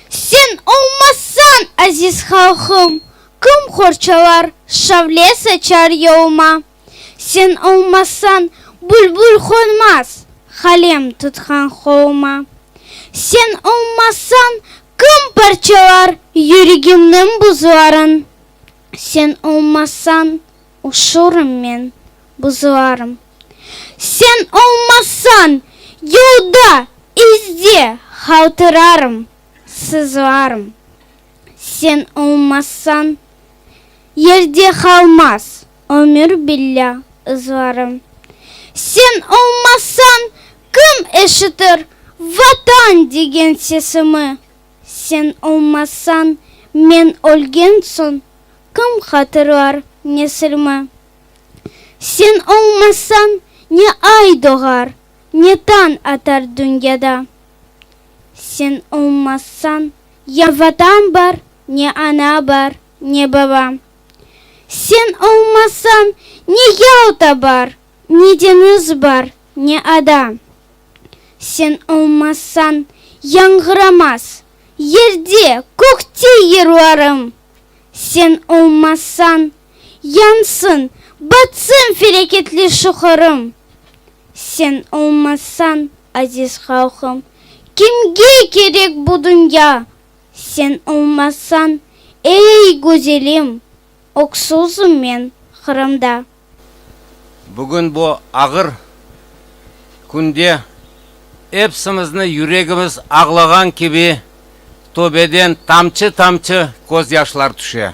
Sen olmazsañ, aziz halqım, Kim qorçalar, şavle saçar yoluma? Sen olmazsañ, bülbül qonmaz, Qalem tutqan qoluma. Sen olmazsañ, kim parçalar Yüregimniñ buzların? Sen olmazsañ. Uçurımmen buzuarım. Sen olmasañ, yolda, izde haltırarım, sızuarım. Sen olmasañ, yerde qalmaz ömür billâ ızlarım. Sen olmasañ, kim eşitir Vatan degen sesimi? Sen olmasañ, men ölgen soñ Kim hatırlar, nesilmi? Sen olmasañ, ne ay doğar, Ne tañ atar dünyada. Sen olmasañ, ya Vatan bar, Ne ana bar, ne baba. Sen olmasañ, ne Yalta bar, Ne deñiz bar, ne ada. Sen olmasañ, yañğıramaz Yerde, kökte yırlarım. Sen olmasañ, yansın, batsın felâketli şu Qırım! Sen olmasañ, aziz halqım, kimge kerek bu dünya? Sen olmasañ, ey, güzelim, öksüzim men Qırımda. Bugün bu ağır künde epsimizni yüregimiz ağlağan kibi töbeden tamçı-tamçı közyaşlar tüşe.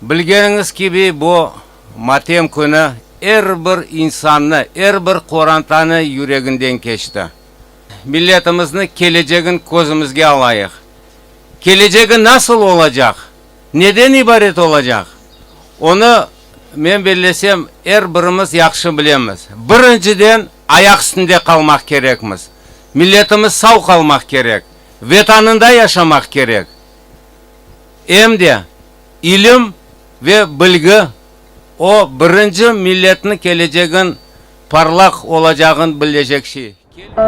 Bilgeniñiz kibi, bu matem künü er bir insannı, er bir qorantanı yüreginden keçti. Milletimizni kelecegin közümizge alayıq. Kelecegi nasıl olacaq, Neden ibaret olacaq, onı, men bellesem, er birimiz yahşı bilemiz. Birinciden, ayaq üstünde qalmaq kerekmiz, milletimiz sav qalmaq kerek, Vetanında yaşamaq kerek, em de ilim ve bilgi o birinci milletniñ kelecegin parlaq olacağın billecek şey.